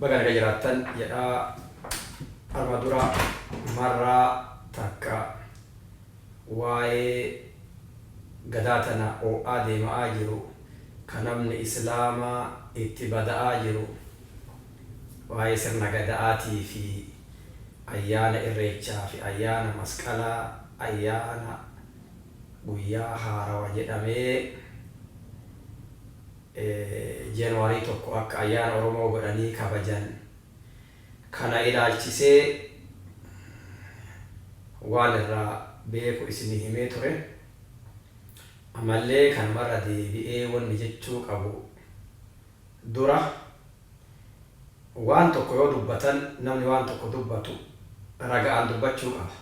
Baga naga jiraattan jedha arma dura marra takka waa'ee gadaa tana oo'aa deema'aa jiru ka namni islaama itti bada'aa jiru waa'ee sirna gada'aatii fi ayyaana irreechaa fi ayyaana masqalaa ayyaana guyyaa haarawa jedhamee January 1 akka ayyaana Oromoo godhanii kabajan kana ilaalchisee waan irraa beeku isinii himee ture. Amallee kanuma irra deebi'ee wanni jechuu qabu dura waan tokko yoo dubbatan namni waan tokko dubbatu raga'aan dubbachuu qaba.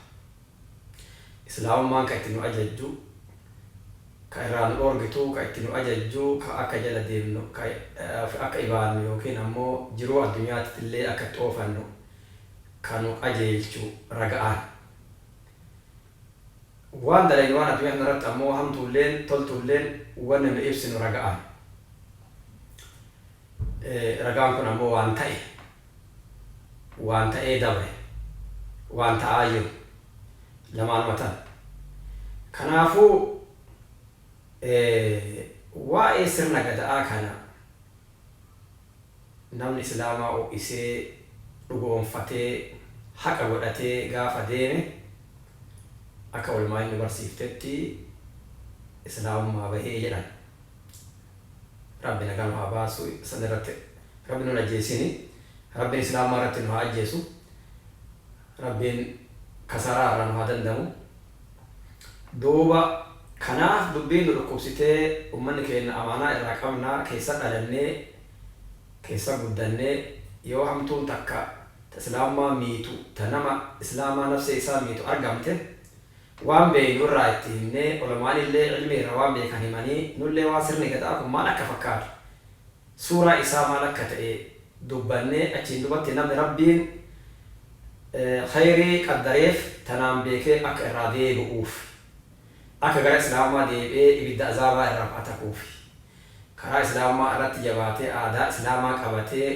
Islaamummaan ka itti nu ajajju, ka irraa nu dhoorgitu, ka itti nu ajajju, ka akka jala deemnu, ka of akka ibaannu ykn ammoo jiruu addunyaattillee akka itti oofannu ka nu qajeelchu raga'aan. Waan dalaynu waan addunyaa tanarratti ammoo hamtuulleen toltuulleen wanni nu ibsinu raga'aan. Ragaan kun ammoo waan ta'e, waan ta'ee dabre, waan ta'aa jiru lamaanuma tan. Kanaafuu waa'ee sirna Gada'aa kana namni Islaamaa ho'isee, dhugoomfatee, haqa godhatee gaafa deeme akka ulmaa'in nu barsiiftetti Islaamummaa bahe jedhan. Rabbi nagaa nu haa baasu san irratti rabbi nun ajjeesini rabbin islaamummaa irratti nu haa ajjeesu rabbiin kasaaraa irraa nu haa dandamu duuba kanaaf dubbiin nu dhukkubsitee ummanni keenna amaanaa irraa qabna keessa dhalannee keessa guddannee yoo hamtuun takka ta islaamummaa miitu ta nama islaamaa nafsee isaa miitu argamte Waan beeynu irraa itti himnee, ulamaanillee ilmii irra waan beekan himanii, nullee waan sirni gada'aa kun maal akka fakkaatu, suuraa isaa maal akka ta'e dubbannee, achiin dubatti namni Rabbiin kheyrii qaddareef tanaan beekee akka irraa deebi'uuf, akka gara Islaamummaa deebi'ee ibidda azaabaa irraa ba'atakuufi, karaa Islaamummaa irratti jabaatee aadaa Islaamaa qabatee,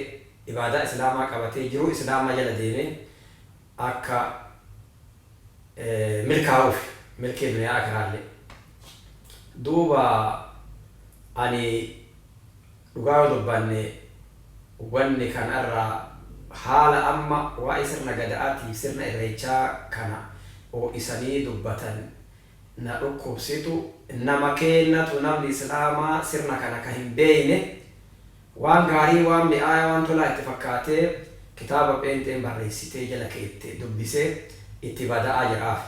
ibaadaa Islaamaa qabatee, jiruu Islaamaa jala deemee, akka milkaa'uuf milkii duniyaa aakhiraallee. Duuba ani dhugaa yoo dubbanne wanni kana irraa haala amma waa'ee sirna Gada'aatiif sirna Irreechaa kana oo'isanii dubbatan na dhukkubsitu, nama keennatu namni Islaamaa sirna kana ka hin beeyne Waan gaarii, waan mi'aaya, waan tolaa itti fakkaatee kitaaba pheenxeen barreessitee jala keette dubbisee itti bada'aa jiraafi.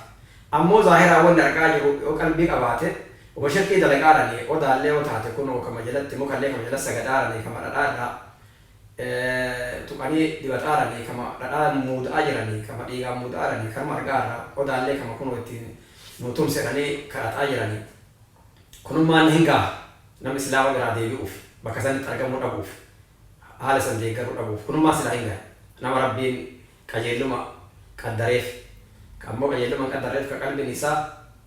Ammoo zaahiraan wanni arga'aa jiru yoo qalbii qabaate woma shirkii dalagaarani, odaallee yoo taate kunoo kama jalatti, mukallee kama jala sagadaarani, kama dhadhaa irraa tuqanii dibataarani, kama dhadhaa muuda'aa jirani, kama dhiigaan muuda'aarani kanuma arga'aarra, odaallee kama kunoo ittiin nuu tumsi jedhanii kadhata'aa jirani. Kunummaa na hin gaha. Namni silaa wal iraa deebi'uuf, bakka sanitti argamuu dhabuuf, haala san deeggaruu dhabuuf, kunummaa silaa hin gaha. Nama Rabbiin qajeelluma qaddareef, ka ammoo qajeelluma hin qaddarreef, ka qalbiin isaa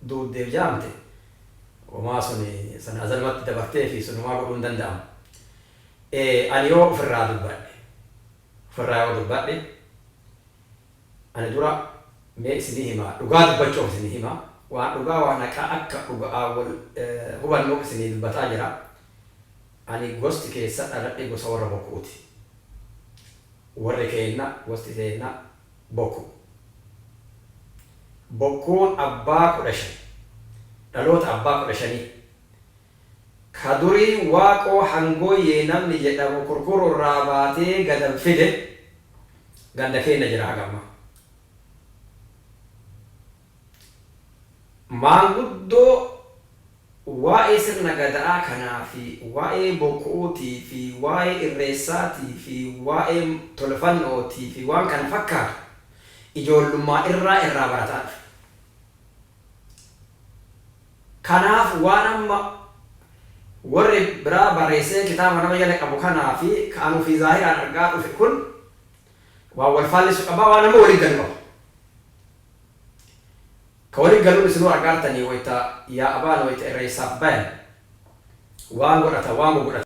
duuddeef jaamte, homaa suni san azalumatti dabarteefi sun homaa godhuu hin danda'amu. Ee, ani yoo ufirraa dubbadhe, ufirraa yoo dubbadhe, Ani dura mee isinii himaa dhugaa dubbachuuf isinii hima waan dhugaa waan haqaa akka dhuga'aa wol hubannuuf isinii dubbataa jira ani gosti keessa dhaladhe gosa worra boku'uti worri keenna gosti teenna boku bokkuun abbaa kudha shan dhaloota abbaa kudha shanii Ka durii Waaqoo Hangooyyee namni jedhamu Kurkuru irraa baatee gadan fide ganda keenna jira haga ammaa. Maanguddoo waa'ee sirna Gada'aa kanaa fi waa'ee Bokku'uutii fi waa'ee Irreessaatii fi waa'ee Tolfanno'ootii fi waan kana fakkaatu ijoollummaa irraa irraa barataa dhufe. Kanaaf waan amma warri biraa barreessee kitaaba nama jala qabu kanaa fi ka an ufii zaahiraan argaa dhufe kun waan wal faallessu qabaa? Waan amma wali galu qaba. Ka wali galuun isinuu argaartanii wayta yaa'abaan wayta irreessaaf bayan waan godhatan waan gogodhatan.